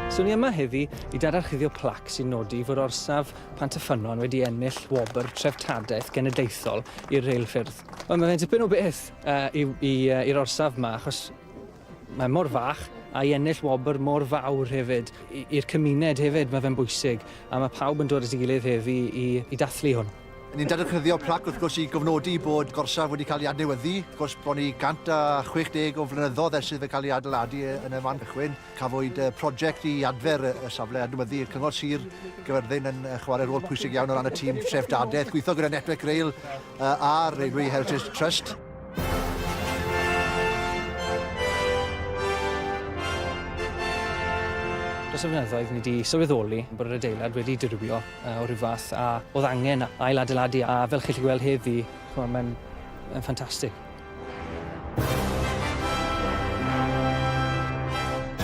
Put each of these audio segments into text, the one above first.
So ni yma heddi i dadarchuddio plac sy'n nodi fod orsaf Pant y Ffynnon wedi ennill wobr treftadaeth genedlaethol i'r reilffyrdd. Wel mae fe'n dipyn o beth uh, i'r uh, orsaf yma achos Mae mor fach, a i ennill wobr mor fawr hefyd, i'r cymuned hefyd, mae fe'n bwysig, a mae pawb yn dod at ei gilydd heddi i i dathlu hwn. Ni'n dadgyddio plac wrth gwrs i gofnodi bod gorsaf wedi cael ei adnewyddu, wrth gwrs bron i 160 o flynyddoedd ers iddo cael ei adeiladu yn y man cychwyn. Cafwyd project i adfer y safle, adnewyddu Cyngor Sir Gaerfyrddin yn chwarae rôl pwysig iawn o ran y tîm treftadaeth, gweithio gyda Network Rail, uh, ar Railway Heritage Trust. Dros y fynyddoedd, ni wedi sylweddoli bod yr adeilad wedi dirwio uh, o rhyw fath a oedd angen ail adeiladu a fel chi'n gallu gweld heddi, mae'n ffantastig.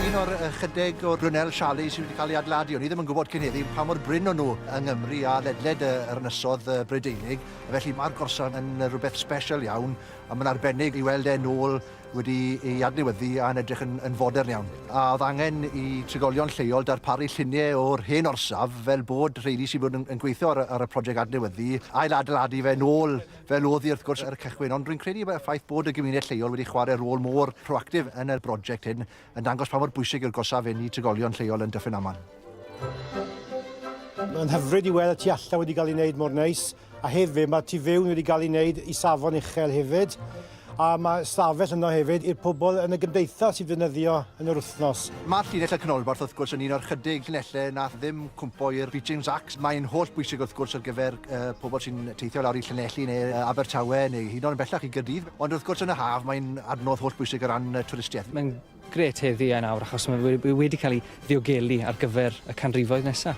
Un o'r ychydig o Brunel Charlie sydd wedi cael ei adladu, o'n i ddim yn gwybod cyn heddi pa mor brin o'n nhw yng Nghymru a ledled yr ynysodd Brydeinig, felly mae'r gorsan yn rhywbeth special iawn a mae'n arbennig i weld e'n ôl wedi ei adnewyddu a'n edrych yn, yn fodern iawn. A oedd angen i trigolion lleol darparu lluniau o'r hen orsaf fel bod rheini sydd wedi bod yn, yn gweithio ar, ar y prosiect adnewyddu ail adeiladu fe'n ôl fel oedd hi wrth gwrs ar y cychwyn, ond rwy'n credu bod y ffaith bod y gymuned lleol wedi chwarae rôl mor proactif yn y brosiect hyn yn dangos pa mor bwysig yw'r gorsaf hyn i trigolion lleol yn Dyffryn Aman. Mae'n hyfryd i weld y tu allan wedi cael ei wneud mor neis, a hefyd mae'r tu fewn wedi cael ei wneud i safon uchel hefyd. A mae stafell yno hefyd i'r pobl yn y gymdeithas i ddefnyddio yn yr wythnos. Mae llinell y canolbarth wrth gwrs yn un o'r chydig llinellau nath ddim cwmpo i'r Beeching Zacks. Mae'n holl bwysig wrth gwrs ar gyfer pobl sy'n teithio lawr i Llanelli neu Abertawe neu hyd yn oed yn bellach i Gaerdydd. Ond wrth gwrs yn y haf mae'n adnodd holl bwysig o ran twristiaeth. Mae'n Grêt heddi a nawr achos mae fe we- wedi cael ei ddiogelu ar gyfer y canrifoedd nesaf.